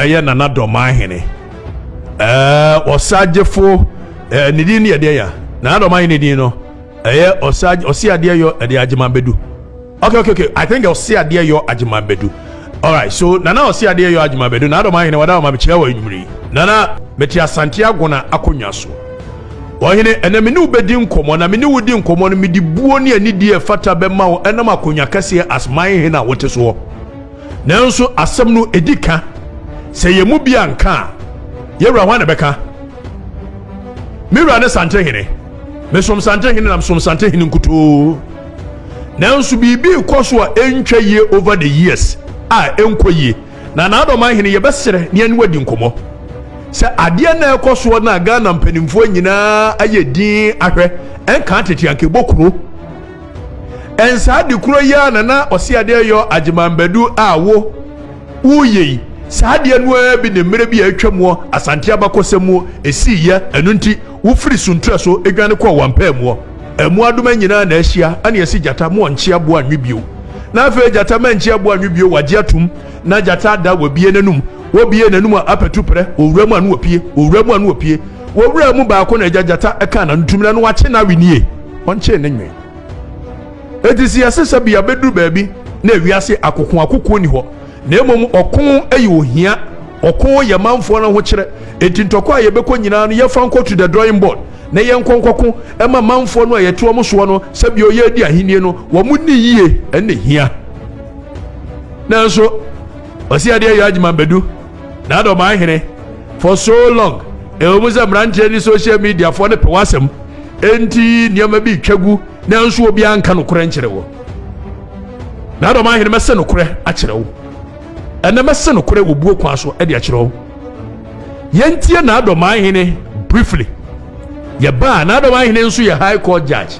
ɛyɛ nana dɔmaa hene ɛɛ ɔsagyefo ɛɛ ne din ne ɛdeɛ ya nana dɔmaa hene din no ɛyɛ ɔsagye ɔsi adeɛ yɔ ɛde agyema bedu okay okay okay i think ɔsi adeɛ yɔ agyema bedu alright so nana ɔsi adeɛ yɔ agyema bedu nana dɔmaa hene wɔda ɔma mekyerɛ wɔ enyimire nana mete asante agona akonnwa so ɔhene ɛnna me ne wo bɛdi nkɔmmɔ na me ne wo di nkɔmmɔ no mede buo ne anidie ɛfata bɛma wo ɛnam akonnwa kɛseɛ asman hene a wote soɔ Nanso asɛm no edi ka. Sɛ yɛn mu bi anka a, yɛn wura hwan na ɛbɛka? Me wura ne Santehene. Mesom Santehene na mesom Santehene nkutoo. Nanso biribi rekɔ so a ɛntwa yie over the years a ɛnkɔ yie. Na n'adɔman hene yɛbɛsrɛ ne ɛne wadi nkɔmmɔ sɛ adeɛ na ɛkɔ soɔ na Ghana mpanimfoɔ nyinaa ayɛ din ahwɛ ɛnka tete anka ɛbɔ kuro. Ɛnsa ade koro yi ara na na ɔse ade ɛyɔ Agyeman Badu a wo woyɛ yi. Saa adeɛ no ara bi ne mmerɛ bi a atwa muɔ Asante abakɔsɛm muo ɛsii yɛ. Ɛno nti wo firi Suntra so dwane kɔɔ Wampaa muɔ. Mmoadoma nyinaa na ahyia ɛne ɛse Gyata mo ɔnkye aboa nnwe bio. Na afei Gyata mankye aboa nnwe bio wagye atom. Na Gyata ada wabue n'anum. Wobue n'anum a apɛtu prɛ wɔ wura mu a na wapue. Wɔ wura mu a na wapue. Wɔwura mu baako na agya gyata ɛka na ntum na no wakye na awi nie ɔnkyee ne nwen. Eti si yɛse sɛ bia bɛduru baabi na ewiase akoko akokoɔ ni hɔ na mmom ɔko ɛyɛ ohia ɔko yɛ manfoɔ no ahokyerɛ enti ntɔkwa a yɛbɛkɔ nyinaa no yɛfa nkɔ to the drawing board na yɛnkɔ nkɔko ɛma manfoɔ no a yɛte wɔn soɔ no sɛ bia ɔyɛ adi ahennie no wɔn ni yie ɛna hia nanso ɔsi adeɛ yɛ adwuma bɛdu N'adomaa hene for so long. Ɛwɔ mu sɛ mmeranteɛ ne social media foɔ no pɛ w'asɛm enti nneɛma bi twa gu nanso obiara nka nokorɛ nkyerɛ wɔ. N'adomaa hene mɛsɛ nokorɛ akyerɛ wo. Ɛnɛ mɛsɛ nokorɛ wɔ buo kwan so de akyerɛ wo. Yɛntie n'adomaa hene briefly. Yɛbaa n'adomaa hene nso yɛ high court judge.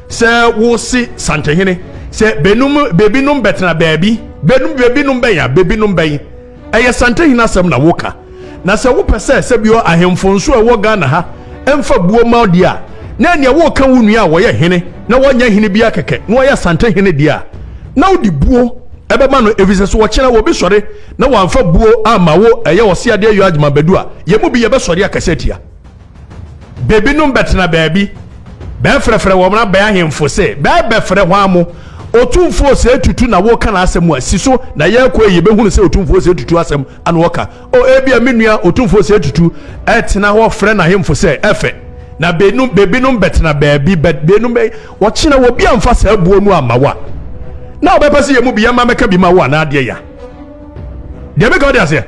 Sɛ wo se Santehene, sɛ benom bebinom bɛtena baabi, benom bebinom bɛn a, bebinom bɛn, ɛyɛ Santehene asɛm na wo ka. Na sɛ wo pɛ sɛ sɛbio ahemfo nso a ɛwɔ Ghana ha mfa buo ma wo deɛ a, na ɛneɛ wo reka wo nua a wɔyɛ hene na wɔnyɛ hene biara kɛkɛ na ɔyɛ Santehene deɛ a na wo de buo ɛbɛma no ɛfiri sɛ so ɔkyena wɔ bi sɔre na wɔamfa buo amma wo ɛyɛ ɔse adeɛ yɔ adwuma bɛdu a yɛn mu bi yɛbɛsɔre akɛse atia Bebinom bɛtsena beebi, bɛfrɛfrɛ hɔn aban ahemfo se, Bɛrebɛfrɛ hwan mo? Otumfo Osei Tutu na woreka n'asɛm a, si so na yɛkɔ a yebehunu sɛ Otumfo Osei Tutu asɛm na ɔreka. O, ebia me nua Otumfo Osei Tutu retsena hɔ frɛ n'ahemfo sɛ, Ɛfɛ, na benom, bebinom bɛtsena beebi, bɛ, benom bɛ, ɔkye na obi amfa saa buo no amma wo a, na ɔbɛpɛ sɛ yɛn mu bi yɛma mɛka bi ma wo anaa deɛ ya. Deɛ meka ɔde aseɛ.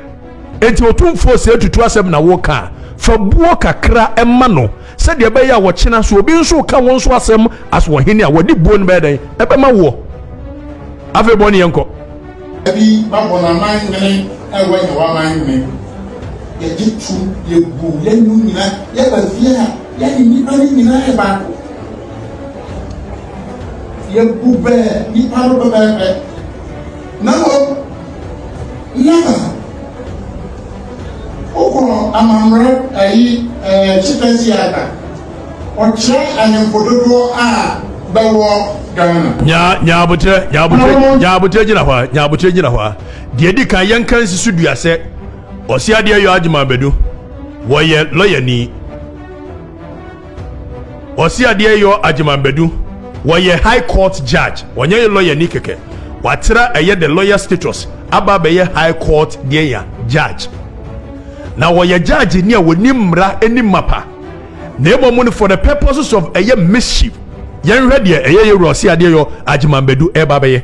Enti Otumfoɔ sɛ atutu asɛm na woreka a, fa buo kakra ma no sɛdeɛ ɛbɛyɛ a ɔkyena so obi nso reka wo nso asɛm as ɔhene a, wɔde buo no bɛyɛ dɛn? Ɛbɛma woɔ. Afei bɔ ne yɛn kɔ. Bi ba bɔ n'aman nwene na wanya w'aman nwene. Yɛgye tom, yɛbu, yɛnu nyina, yɛba fie a, yɛne nnipa no nyina yɛ baako. Yɛbu bɛ nnipa no pɛpɛɛpɛ. Na mmom, na wokɔ amammerɛ ayi ɛɛ Chippa Theatre, ɔkyerɛ ahemfo dodoɔ a bɛwɔ Ghana. Nyaa nyaa abokyerɛ nyaa abokyerɛ nyaa abokyerɛ gyina hɔ a nyaa abokyerɛ gyina hɔ a deɛ edi kan yɛn ka nsi so dua sɛ ɔsi adeɛ yɔ adwuma abɛdu wɔyɛ lɔyani. Ɔse adeɛ yɔ Agyeman Badu. Wɔyɛ High Court Judge. Ɔnyɛ yɛ lawyer ni kɛkɛ. Watra ɛyɛ the lawyer status aba abɛyɛ High Court deɛn ya? Judge. Na wɔyɛ Judge ni a wɔnim mmra ɛnim mapa. Na ɛmɔmu no for the purposes of ɛyɛ mischief. Yɛnhwɛ deɛ ɛyɛ Yɛwura Ɔse adeɛ yɔ Agyeman Badu ɛreba abɛyɛ.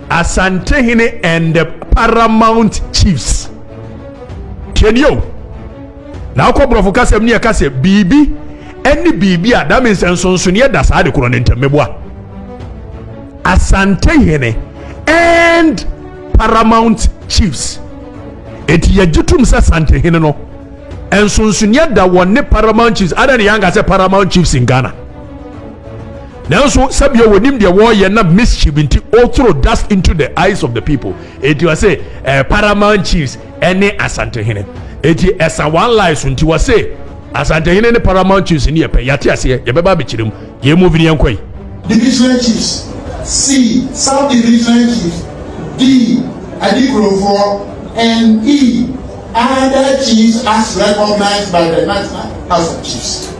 Asantehene and the Paramount Chiefs. Tienio. Na akɔ borɔfo kasɛm ne ɛka sɛ biribi ɛne biribi a that means nsonsoneɛ da saa de korɔ ne ntam meboa. Asantehene and Paramount Chiefs. Eti yɛgye tom sɛ Asantehene no nsonsoneɛ da wɔ ne Paramount Chiefs. Ada ne yɛanka sɛ Paramount Chiefs in Ghana. Nanso, sɛbea wɔnim deɛ wɔreyɛ na mischief nti ɔthrow dust into the eyes of the people. Enti ɔse eh, Paramount Chiefs ɛne Asantehene. Enti ɛsa one lie so nti wɔse Asantehene ne Paramount Chiefs no yɛ pɛ. Yɛate aseɛ, yɛbɛba abɛkyerɛ mu. Yɛn move no yɛnkɔ yi. Divisional Chiefs, C. Sub Divisional Chiefs, D. Adikurofoɔ, and E. Other Chiefs as recognized by the National House of Chiefs.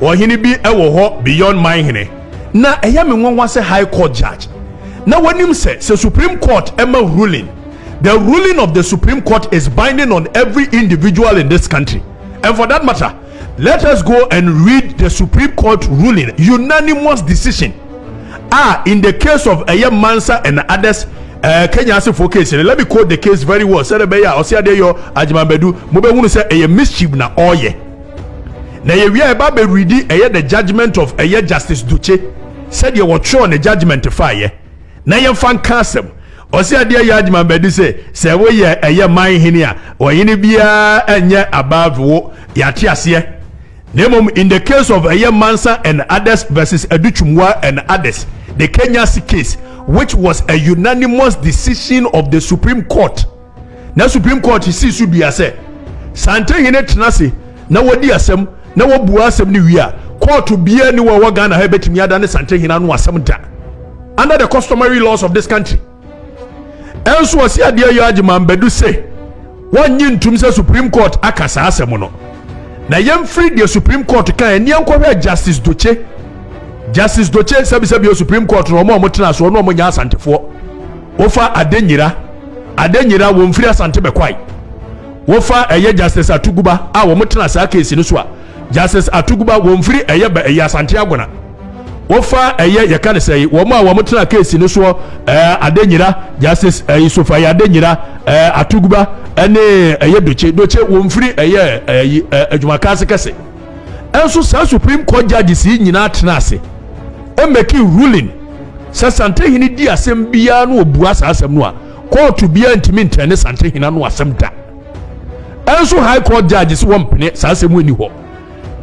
Ɔhene bi wɔ hɔ beyond my hene. Na ɛyɛ me nwanwa sɛ high court judge na wanim sɛ sɛ supreme court ma ruling the ruling of the supreme court is binding on every individual in this country and for that matter let us go and read the supreme court ruling unanimous decision ah in the case of ɛyɛ mansa and others uh, kenya asefo case let me quote the case very well sɛ ɛbɛyɛ a ɔsɛ adeɛ yɔ agyemabadu mobɛhunu sɛ ɛyɛ mischief na ɔyɛ na yɛwie a yɛba bɛredi ɛyɛ the judgment of ɛyɛ justice dokye sɛdeɛ wɔtwerɛ ne judgment faeɛ na yɛmfa nka asɛm ɔsɛ adeɛ yɛ adwuma bɛde sɛ sɛ woyɛ ɛyɛ man hene a ɔhene biara nyɛ above wo yɛate aseɛ na mmom in the case of ɛyɛ mansa and others versus adutwumwa and others the kenyasi case which was a unanimous decision of the supreme court na Supreme Court sii so dua sɛ saa ntahene tena ase na wɔdi asɛm na wɔbua asɛm no wie a, kɔɔto biara ni wɔ ɛwɔ Ghana ha ɛbɛtumi ada ne saa ntahene ano asɛm da under the customary laws of this country. Ɛnso ɔse adeɛ yɔ Agyeman Badu sɛ wɔnnye ntum sɛ Supreme Court aka saa asɛm no na yɛmfiri deɛ Supreme Court ka ɛneɛ nkɔhwɛ Justice Dokye Justice Dokye sɛbisɛbi o Supreme Court no ɔmo a ɔmo tena ase ɔno ɔmo nyɛ asantefoɔ wofa adenyira adenyira wɔn firi asante bɛkwae wofa ɛyɛ justice atuguba a wɔn tena saa keesi no so a justice atuguba wɔn firi ɛyɛ bɛ ɛyɛ asante agona wofa ɛyɛ yɛka ne sɛ wɔn a wɔn tena keesi no soɔ ɛɛ adenyira justice ɛyɛ sofa yɛ adenyira ɛɛ atuguba ɛne ɛyɛ doce doce wɔn firi ɛyɛ ɛyɛ adwumakanse kɛse. nso saa supreme court judges yi nyinaa tena ase ɛmɛki ruling sɛ santehene di asɛm biara no ɔbua saa asɛm no a kɔɔto biara ntumi ntɛn ne santehene ano asɛm da ɛnso high court judges wɔn mpene saa asɛm ani hɔ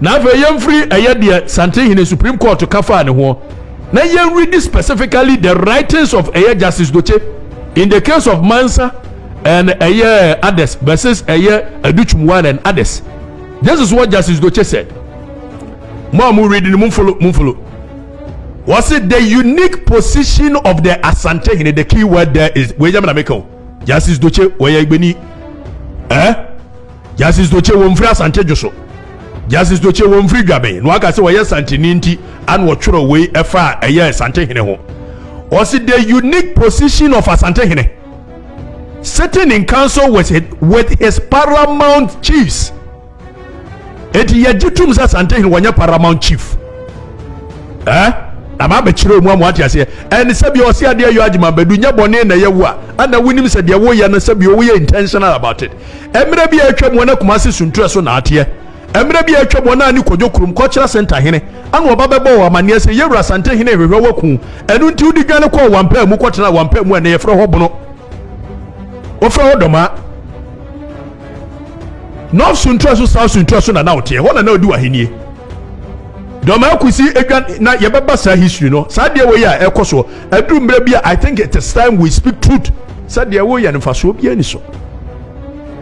na afei yɛmfiri ɛyɛ deɛ santehene supreme court ka faa ne ho na yɛnredi specifically the writings of ɛyɛ justice doche in the case of mansa and ɛyɛ others versus ɛyɛ adutwumwan and others Jesus wɔ justice do kyesɛ mo a mo read no mo mfolo mo mfolo wɔsi the unique position of the asante hene the key word there is wei yɛ mi na mi ka o justice do kye wɔyɛ igbeni ɛɛ eh? justice do kye wɔn firi asante dwo so justice do kye wɔn firi dwaben na waka sɛ wɔyɛ santini nti ana wɔtwerɛ wei ɛfa ɛyɛ asante hene ho wɔsi the unique position of asante hene. sitting in council with his, with his paramount chiefs eti yɛgye tum sɛ santehene wɔnyɛ paramount chief ɛɛ eh? ama abɛkyerɛ mu ama wate aseɛ ɛne sɛbi ɔse adeɛ yɔ agyema bɛdu nyɛ bɔne na yɛwu a ana wonim sɛ deɛ woyɛ no sɛbi woyɛ intentional about it ɛmerɛ bi a atwa mu ɛna kuma se suntuɛ so na ateɛ Mmerɛ bi a atwam wɔn anne kɔdwo kurom kɔkyerɛ Asɛnta hene ana ɔba bɛbɔɔ wɔ amaneɛ sɛ Yɛwura Asante hene rehwehwɛ waku ɛno nti wode dwane kɔɔ Wampaa mu kɔtenaa Wampaa mu a ɛnɛ yɛfrɛ hɔ Bono wɔfrɛ hɔ Dɔmaa North so ntua so South so ntua so na na woteɛ hɔ na na ɔdi w'ahennie Dɔmaa kusi adwan na yɛbɛba saa history no saa deɛ wei a ɛkɔ soɔ aduru mmerɛ bi a I think it is time we speak truth sɛ deɛ woyɛ no mfasoɔ biara ni so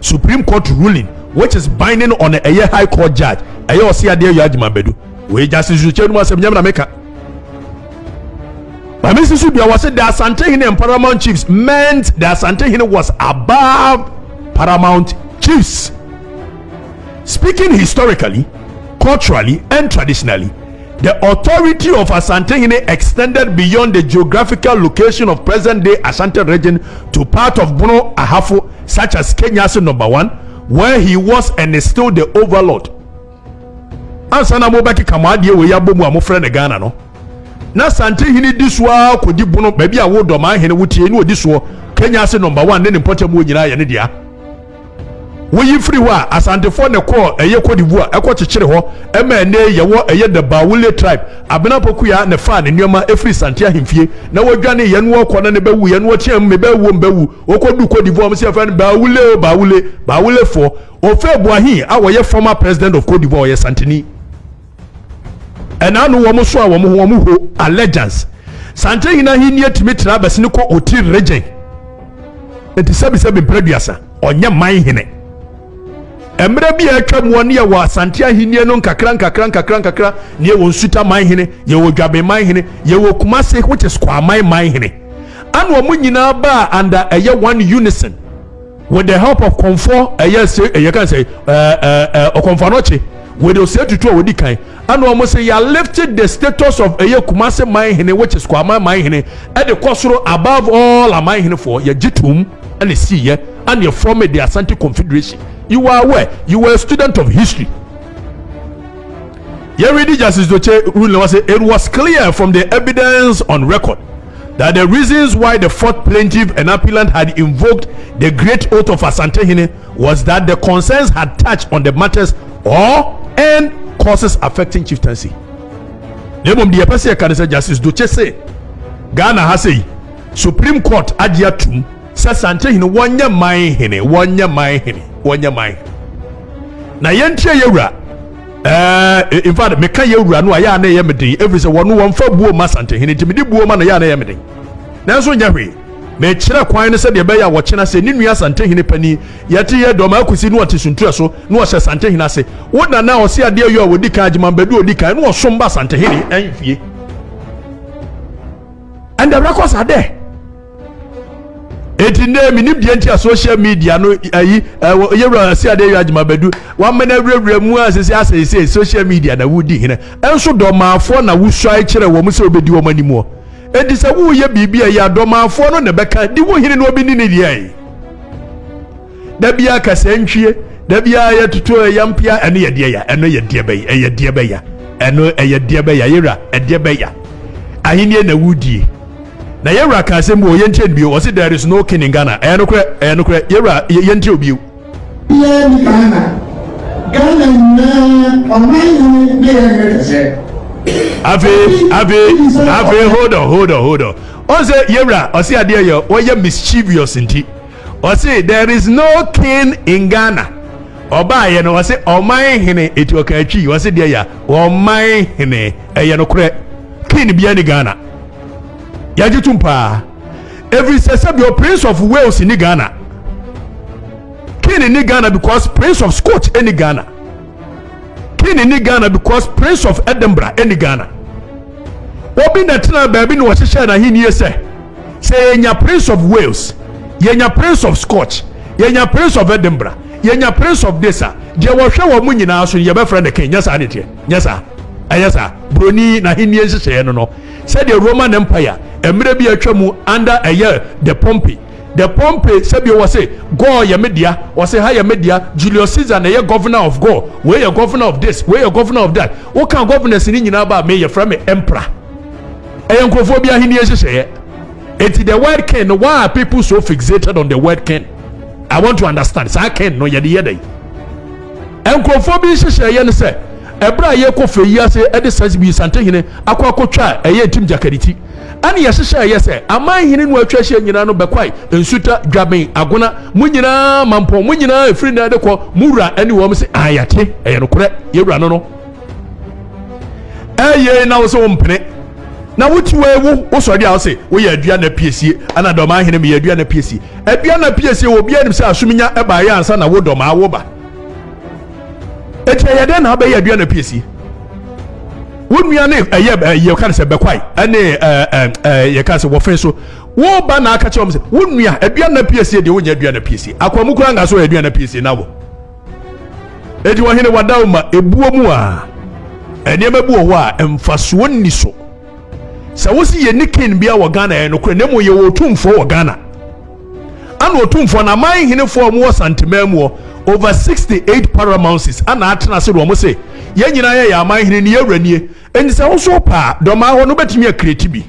Supreme Court ruling which is binding on ɛyɛ High Court Judge ɛyɛ ɔse adeɛ ayɔ adwuma bɛdu wei Justice Nsukyerɛ no mu asɛm nyam na meka ma mesi so dua wɔse the Asantehene and Paramount Chiefs meant the Asantehene was above Paramount Chiefs speaking historically culturally and traditionally The authority of Asantehene extended beyond the geographical location of present-day Ashanti region to part of Bono Ahafo such as Kenyasi Number One where he was and is still the overlord. Ansa na mobɛkeka mo adeɛ wei abɔ mu a mofrɛ no Ghana no, na Asantehene di so ara kɔdi Bono baabi a wo dɔmanhene wo tie ne ɔdi soɔ Kenyasi Number One ne ne mpɔtam wɔ nyinaa yɛ ne dea. Woyi firi hɔ a, Asantefoɔ na ɛkɔɔ ɛyɛ Côte d'Ivoire ɛkɔ kyekyere hɔ ma ɛnnɛ yi yɛwɔ ɛyɛ the Baoulé tribe. Abena Pokuyaa na ɛfaa ne nneɛma ɛfiri Santé ahemfie na wɔdwane yɛ na wɔkɔ na ne ba wuiɛ na wɔteaam me ba wuo me ba wu. Wɔkɔ duu Côte d'Ivoire wɔn se yɛfrɛ no Baoulé o Baoulé, Baoulé foɔ. Houphouët Boigny a ɔyɛ former president of Côte d'Ivoire ɔyɛ Santeni. ɛna ano wɔn so a wɔn ho wɔn ho allegiance sankyɛn hene ahenni atumi tena abɛsene kɔ oti regyen nti sɛbisɛbi mpere duasa ɔnyɛ man hene mmerɛ bi a atwa mu ɔne yɛwɔ asante ahenni no nkakra nkakra nkakra nkakra ne yɛwɔ nsuta man hene yɛwɔ dwaben man hene yɛwɔ kumase which is kwaman man hene ana wɔn nyinaa baa under ɛyɛ one unison with the help of kɔnfɔ ɛyɛ eh, se ɛyɛ eh, kan sɛ ɛɛ ɛɛ ɔkɔnfanɔkye with ose tutu a wɔdi kan ɛna wɔn sɛ yɛ lifted the status of ɛyɛ kumase man hene which is kwama man hene ɛde kɔ soro above all aman hene foɔ yɛ gye tum ɛna si yɛ ɛna yɛ form the asante confederation you are aware you were a student of history. Yɛredi Justice Dotse ruling no ase, it was clear from the evidence on record that the reasons why the fourth plaintiff and appellant had invoked the Great Oath of Asantehene was that the concerns had touched on the matters or and causes affecting chieftaincy. Na mmom deɛ yɛpɛ sɛ yɛka ne sɛ Justice Dotse se Ghana ha sei Supreme Court agye atum sɛ Santehene wɔnyɛ man hene wɔnyɛ man hene wɔnyɛ man hene na yɛntie yɛwura Ɛɛ, in fact, meka yɛn wura no a, yɛ a na ɛyɛ me den, ɛfiri sɛ wɔn no wɔmfa buo mma Asantehene, nti mede buo ma no yɛ a na ɛyɛ me den. Nanso nyɛ hwee, mekyerɛ kwan no sɛdeɛ ɛbɛyɛ a wɔkyena ase, ne nua Asantehene panin, yɛte yɛ dɔm ara kɔsi na ɔte Suntua so, na ɔhyɛ Asantehene ase. Wo Nana, ɔse adeɛ yɔ a ɔdi kan, Agyeman Badu a ɔdi kan, na ɔsom ba Asantehene ahemfie. And the records are there. eti ndɛ minim deɛ nti a social media no ayi ɛwɔ yɛwura asi adeɛ yɛ adwuma bɛdu wama no awurawura mu a sisi asɛe sɛ social media na wodi hene ɛnso dɔmaafoɔ na wosuae kyerɛ wɔn sɛ wobɛdi wɔn animuɔ enti sɛ woyɛ biribi a ɛyɛ adɔmaafoɔ no na ɛbɛka di wo hene na ɔbɛni ne deɛ da biara kasa ntwie da biara yɛ toto ɛyɛ mpia ɛno yɛ deɛ ya ɛno yɛ deɛ bɛyɛ ɛyɛ deɛ bɛya ɛno ɛyɛ deɛ bɛya yɛwura ɛdeɛ bɛya ahenni na wudie na yɛwura ka asɛm bi wɔ yɛntie no bio ɔse there is no king in ghana ɛyɛ nokorɛ ɛyɛ nokorɛ yɛwura yɛntie obio biara ni ghana ghana nyinaa ɔman hene ne yɛ hene kɛsɛ afei afei afei hold on hold on hold on ɔn sɛ yɛwura ɔse adeɛ yɛ wɔyɛ mischievous nti Ɔse there is no king in Ghana. Ɔbaayɛ no ɔse ɔman hene eti ɔka atwi ɔse deɛ ya ɔman hene ɛyɛ no korɛ king bia ni Ghana. Yagye tum paa. Every sɛ sɛ bio Prince of Wales ni Ghana. King ni Ghana because Prince of Scotch ni Ghana. King ni Ghana because Prince of Edinburgh ɛni Ghana. Obi na tena baabi na wɔhyehyɛ n'ahenni sɛ sɛ yɛnya Prince of Wales yɛnya Prince of Scotch yɛnya Prince of Edinburgh yɛnya Prince of this a deɛ wɔhwɛ wɔn mu nyinaa so yɛbɛfrɛ no King nyɛ saa ne teɛ nyɛ saa ɛyɛ saa buroni n'ahenni nhyehyɛeɛ no no sɛdeɛ Roman Empire mmerɛ bi atwa mu under ɛyɛ the Pompey The Pompeii sɛbio wɔ se Gaul yɛ me dea wɔ se ha yɛ me dea Julius Caesar na ɛyɛ governor of Gaul wei yɛ governor of this wei yɛ governor of that woka governors ne nyinaa ba me yɛfrɛ me emperor ɛyɛ nkurɔfoɔ bi ahenni nhyehyɛeɛ enti the word king no why are people so fixated on the word king I want to understand saa king no yɛde yɛ dɛn nkurɔfoɔ bi nhyehyɛeɛ no sɛ ɛberɛ a yɛkɔ fɛ yi ase ɛde sasibisantehene akɔ akɔtwa ɛyɛ ntim gyakaniti ɛne yɛhyehyɛ ɛyɛ sɛ aman nhene no atwa ahyia nyinaa no bɛkwae nsuta dwaben agona mo nyinaa mampɔn mo nyinaa ɛfiri nnɛ de kɔ mo wura ɛne wɔn sɛ ayɛte ɛyɛ nokorɛ yɛwura no no ɛyɛ na wo sɛ wompene na wote wɔ ewu wosɔre a wose woyɛ adua na piesie ana dɔm ahene meyɛ adua na piesie adua na piesie wɔ obiara nim sɛ asomnya ɛbaeɛ ansa na wo dɔm awo ba ɛkyɛ yɛ dɛn na abɛyɛ aduan na pie si wo nua ne ɛyɛ ɛyɛ ka ne sɛ bɛkwae ɛne ɛɛ ɛɛ yɛ ka sɛ wɔfɛn so wo ba na aka kyerɛ wɔn sɛ wo nua aduan na pie sie deɛ wonyɛ aduan na pie sie akwamu kura nga so yɛ aduan na pie sie na wɔ edi wɔn hene wadaw ma ebuo mu a nneɛma bi wɔ hɔ a mfasoɔ nni so sɛ wosi yɛ ne kin bia wɔ ghana yɛ nokorɛ na emu yɛ wɔ otumfoɔ wɔ ghana. Ana otumfoɔ no aman henefoɔ a wɔwɔ Santeman mu hɔ, over 68 paramounces, ana atena ase na wɔse, Yɛn nyinaa yɛ yɛn aman hene ne yɛn wura nie. Enti sɛ wo so wopɛ a, dɔmaa hɔ no wobɛtumi akreeti bi.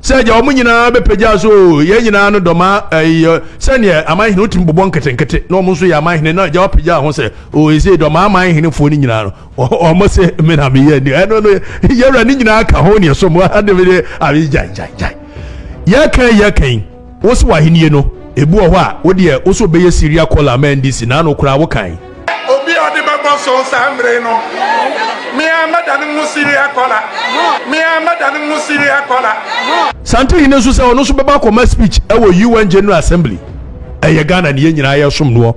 Sɛ agya wɔn nyinaa bɛpagya so oo, yɛn nyinaa no dɔmaa ɛyi yɛ sɛdeɛ aman hene wotumi bobɔ nketenkete na wɔn nso yɛ aman hene na agya wapagya ho sɛ oo, ɛsei dɔmaa aman henefoɔ no nyinaa no. wɔn se me na meyɛ ani ɛno no yɛwura ne nyinaa ka ho neɛ so mu ademe de abe gyae gyae gyae yɛkan yɛkan wo se wahenie no ebi wɔ hɔ a wo deɛ wo so bɛyɛ siria kɔla ama ndc na ano koraa wo kan obi a ɔde bɛbɔ so saa mmere no mea mɛda no mu siria kɔla mea mɛda no mu siria kɔla sante hene nso sɛ ɔno nso bɛba akɔma speech ɛwɔ un general assembly ɛyɛ ghana ne yɛ nyinaa yɛsom noɔ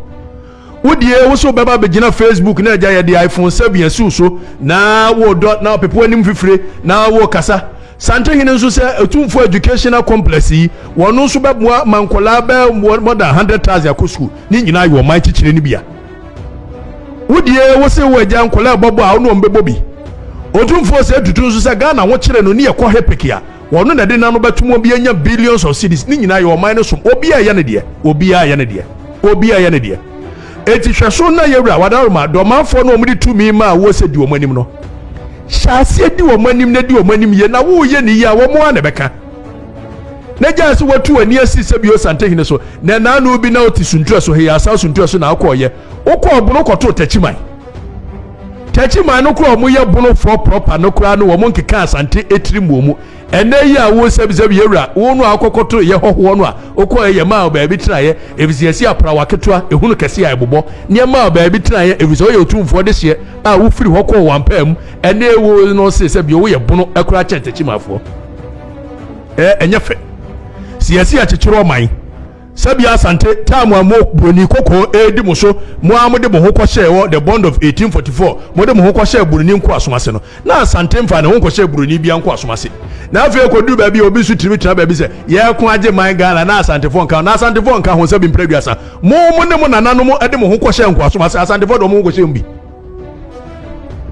Wo deɛ wo so bɛba bɛgyina Facebook na agya yɛde iPhone 7 asiw so na wodɔ na ɔpepo anim fifire na wokasa. Santehene nso sɛ Otumfoɔ Educational Complex yi, wɔn nso bɛboa ma nkwadaa bɛyɛ more than 100,000 akɔ sukuu. Ne nyinaa yɛ ɔman kyekyere no bia. Wo deɛ wo se wo agya nkwadaa bɔbɔ a wo ne wɔn bɛbɔ bi. Otumfoɔ sɛ tutu nso sɛ Ghana ho kyere no ne yɛkɔ hepeke a, Wɔno na ɛde no ano bɛtom obi anya billions of cedis ne nyinaa yɛ ɔman no som obiaa yɛ ne deɛ obiaa yɛ ne deɛ obiaa yɛ ne deɛ enti hwɛ so na yɛwura wadaroma dɔmanfoɔ no wɔde tumi maa woɔ sɛ di wɔn anim no hyɛ aseɛ di wɔn anim na di wɔn anim yie na woyɛ ne yie a wɔn a na ɛbɛka na gyaa sɛ watu w'ani asi sɛ bio santehene so na ɛnaano bi na wote suntua so heyɛ asan suntua so na akɔɔyɛ wokɔ ɔbono kɔtoo takyiman Takyiman no koraa wɔn yɛ bonofoɔ prɔpa no koraa no wɔn nkeka asante etiri mu wɔn ɛnɛ yi a wɔn sɛbisɛbi yɛ wura wɔn no a akɔkɔto yɛ hɔhoɔ no a okɔɔ yɛ maa baabi tenaeɛ efisɛ yɛsi aprawa ketewa ehunu kɛse a ɛbobɔ neɛ maa baabi tenaeɛ efisɛ ɔyɛ otumfoɔ de hyeɛ a wofiri hɔ kɔɔ wɔn mpaa mu ɛnɛ wɔn no se sɛ bi wɔn yɛ bono ɛkoraa kyɛn takyimanfoɔ ɛɛ ɛnyɛ fɛ si yɛsi akyekyere ɔman. Sɛbea Asante time a mo Buroni kɔkɔɔ redi mo so, mo ara mode mo ho kɔhyɛɛ wɔ the Bond of 1844, mode mo ho kɔhyɛɛ Buroni nkoasom ase no, na Asante mfaa ne ho nkɔhyɛɛ Buroni biara nkoasom ase. Na afei ɛkɔduru baabi a obi nso tumi tena baabi sɛ, yɛreko agye man Ghana na Asantefoɔ nka ho. Na Asantefoɔ nka ho sɛ bi mprɛ aduasa. Mo, mo ne mo nananom de mo ho kɔhyɛɛ nkoasom ase. Asantefoɔ de wɔn ho nkɔhyɛɛ mu bi.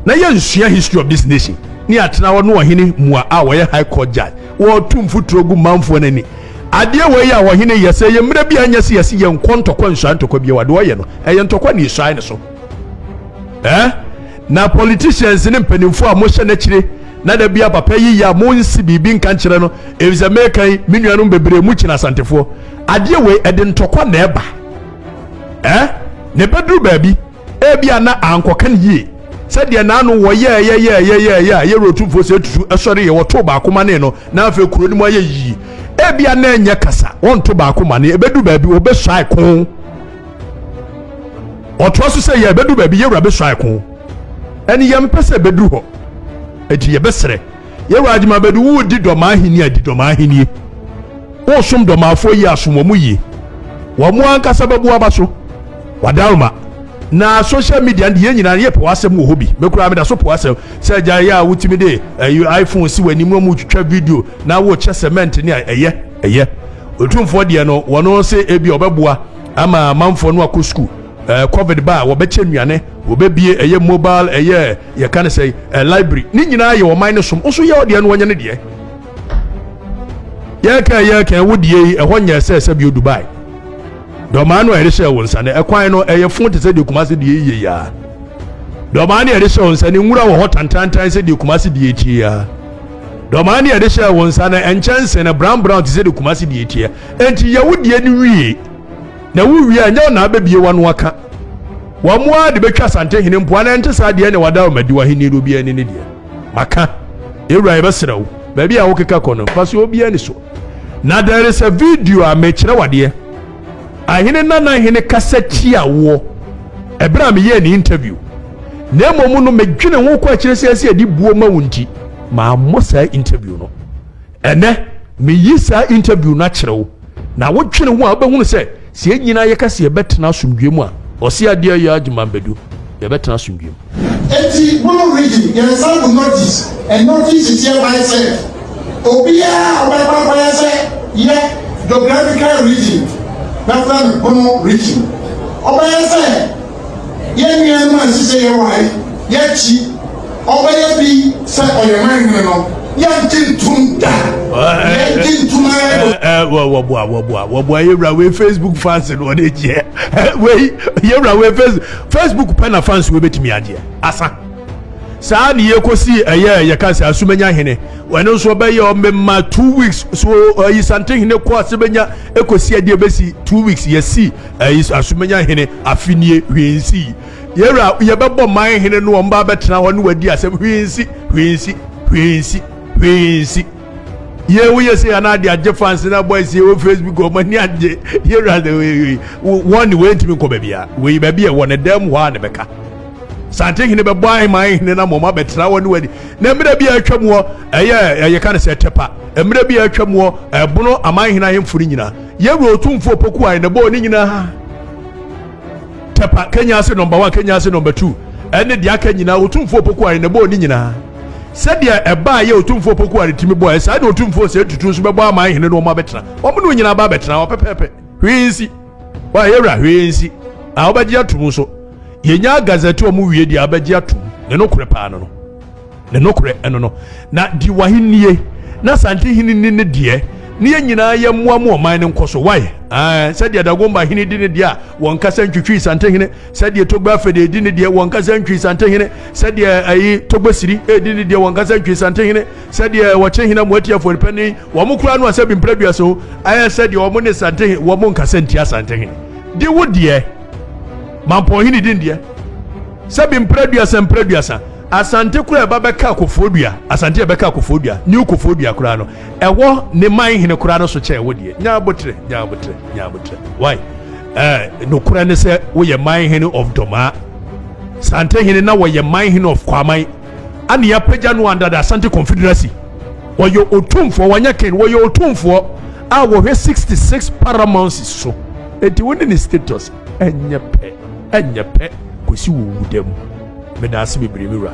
Na yɛ nsua history of this nation ne atena hɔ ne ɔhene mua a wɔyɛ high court judge wɔretu mfuturo gu manfoɔ no ani adeɛ wɔ yi a ɔhene yɛ sɛ yɛ mmerɛ bi a nyɛ sɛ yɛse yɛn kɔ ntɔkwa nsua ntɔkwa bi wɔ deɛ ɔyɛ no ɛyɛ ntɔkwa ne esuae ne so eh na politicians ne mpanimfoɔ a mohyɛ n'akyire na da bia papa yi yɛ a mo nsi biribi nka nkyerɛ no efisɛ meka yi me nuanom bebree mu kyina asantefoɔ adeɛ wɔ yi ɛde ntɔkwa na ɛba eh na ɛbɛduru baabi Ebia na ankɔka no yie sɛdeɛ naano wɔyɛɛ yɛyɛɛyɛyɛɛyɛ a yɛwura otumfoɔ sɛ atutu sɔre yɛ wɔtoo baako ma ne no na afei kuro no mu ayɛ yie ebia na ɛnyɛ kasa wɔnto baako ma ne ebedu baabi wɔbɛsuae ko ɔtoa so sɛ yɛ ebedu baabi yɛwura bɛsuae ko ɛne yɛmpɛ sɛ ebedu hɔ eti yɛbɛsrɛ Yewa adi ma bɛde wo di dɔm ahenni a di dɔm ahenni. Wo som dɔm afoɔ yi asom wɔn mu yie. Wɔn mo ankasa bɛbu aba so. Wadaroma. Na social media no de yɛn nyinaa no yɛpɛ w'asɛm wɔ hɔ bi. Me koraa meda so po w'asɛm. Sɛ gya yɛ a wotumi de ɛyi eh, iPhone si w'anim na wɔtwitwa video na wokyɛ cement ne a ɛyɛ ɛyɛ. Otumfoɔ deɛ no wɔn se ebi ɔbɛboa ama amanfoɔ no akɔ sukuu. Eh, covid ba a wɔbɛkyɛ nnuane, wɔbɛbie ɛyɛ mobile ɛyɛ Yɛka ne sɛ eh, library ne nyinaa yɛ ɔman ne som wo nso yɛ ɔdeɛ no wɔnyɛ ne deɛ yɛkɛn yɛkɛn wo deɛ yi ɛhɔ nyɛ sɛ sɛ bio Dubai dɔmaa no a yɛde hyɛ wo nsa no ɛkwan no ɛyɛ fo te sɛ deɛ kuma se deɛ yie yaa dɔmaa no yɛde hyɛ wo nsa no nwura wɔ hɔ tantantan sɛ deɛ kuma se deɛ tie yaa dɔmaa no yɛde hyɛ wo nsa no ɛnkyɛnse no brown brown te sɛ deɛ kuma se deɛ tie enti yɛ wo deɛ no wie Na wo wie a nyɛ wo na abɛbie w'ano aka. Wɔn ara de bɛtwa Asantehene mpo anaa ɛnte saa deɛ ɛne wada wo madi w'ahennie no obiara ani ne deɛ. Maka. Yɛwura yɛbɛsrɛ wo, baabi a wokeka kɔ no, mfa so obiara ani so. Na there is a video a mekyerɛ wo adeɛ. Ahene Nana Hene kasa tia woɔ ɛberɛ a meyɛɛ ne interview. Na mmom no medwene ho kɔ akyire sɛ ɛsɛ yɛde buo ma wo nti mammɔ saa interview no. Ɛnɛ, meyi saa interview no akyerɛ wo, na wo dwene ho a wobɛhunu sɛ, sɛ yɛn nyinaa yɛka sɛ yɛbɛtena asomdwoeɛ mu a, ɔse adeɛ yɛ adwuma mbedu, yɛbɛtena asomdwoeɛ mu. Enti Blue Region, yɛn san gu Northeast, and Northeast is hereby said, obiara a ɔbɛkɔ akɔyɛ sɛ yɛ Geographical Region, bɛfrɛ no Bono Region, ɔbɛyɛ sɛ, Yɛn nuanom a ɛsɛ sɛ yɛwae, yɛkyi, ɔbɛyɛ bi sɛ ɔyɛ man hene no, yɛngye ntom da. Yɛngye ntom ara do. Wɔboa, wɔboa, wɔboa yɛwura wei Facebook fans no wɔde gyeɛ. Wei yɛwura wei Facebook Facebook pɛ na fans wei bɛtumi agyeɛ. Asa. Saa ne yɛkɔsi ɛyɛ yɛka sɛ asumanya hene. Wɔn nso ɔbɛyɛ ɔmɛma two weeks so ɔyi sante hene kɔ asumanya ɛkɔsi ɛdeɛ bɛsi two weeks yɛsi. Ayi Asumenya hene afe nie, hwee nsi. Yɛwura, yɛbɛbɔ man hene no, wɔn ba bɛtena hɔ ne wadi asɛm, hwee nsi, hwee nsi, hwee nsi, hwee nsi. Yɛ woyɛ sɛ yɛn ade agye fans na boys yɛ wɔ Facebook wɔn ani agye. Yɛwura de wɔn ne wɔn ntumi nkɔ baabi a wɔyi baabi a ɛwɔ ne dan mu hɔ a na bɛka. Sante hene bɛbɔ ahema hene na mɔma bɛtena hɔ ne wadi. Na mmerɛ bi a atwa mu hɔ ɛyɛ ɛyɛ ka ne sɛ tɛpa. Mmerɛ bi a atwa mu hɔ ɛbono aman hene ahemfo no nyinaa. Yɛwura Otumfoɔ Opoku Ayin na bɔɔ ne nyinaa tɛpa Kenya ase nɔmba one Kenya ase nɔmba two ɛne deɛ aka nyinaa Otumfoɔ Opoku Ayin na bɔɔ ne nyinaa sɛdeɛ ɛbaa yɛ Otumfoɔ Opoku Ayin tumi bɔɔ ɛsaa na Otumfoɔ sɛ tutu nso bɛbɔ ama ahene no wɔn abɛtena wɔn ne nyinaa ba abɛtena hɔ pɛpɛɛpɛ hwee nsi wa yɛwura hwee nsi a wɔbɛgye atum nso yɛnya gazɛte wɔn wie deɛ abɛgye atum ne no korɛ paa no no. Ne nokorɛ ɛno no, na di w'ahennie, na Asante hene nni ne deɛ, na yɛn nyinaa yɛ mmoa mu ɔman no nkɔso. Wae, ɛɛ, sɛdeɛ Dagomba hene di ne deɛ a, wɔn kasa ntwitwi Asante hene, sɛdeɛ Togbe Afede di ne deɛ, wɔn kasa ntwi Asante hene, sɛdeɛ ɛyi Togbe Siri di ne deɛ, wɔn kasa ntwi Asante hene, sɛdeɛ wɔkye hene Moati Afɔripani, wɔn koraa no a sɛ bi mprɛdua so, ɛɛ, sɛdeɛ wɔn ne Asante hene, wɔn nkasa ntia Asante hene. Di wo deɛ, Mampɔn hene di ne deɛ, sɛ bi mprɛduasa mprɛduasa. Asante koraa a ɛba bɛka Kofoɔdua, Asante a ɛbɛka Kofoɔdua, New Kofoɔdua koraa no, ɛwɔ ne man hene koraa no so kyɛn wo deɛ. Nya aboterɛ, nya aboterɛ, nya aboterɛ. Why? Eh, nokorɛ ne sɛ woyɛ man hene of Domaa. Sante hene na wɔyɛ man hene of Kwaman. Ana yɛapagya no under the Asante Confederacy. Wɔyɛ otumfoɔ, wɔnyɛ ken, wɔyɛ otumfoɔ a wɔhwɛ 66 paramounts so. Enti wo ne ne status. Ɛnyɛ pɛ, ɛnyɛ pɛ, kɔsi wo wudam. Meda ase bebree, me wura.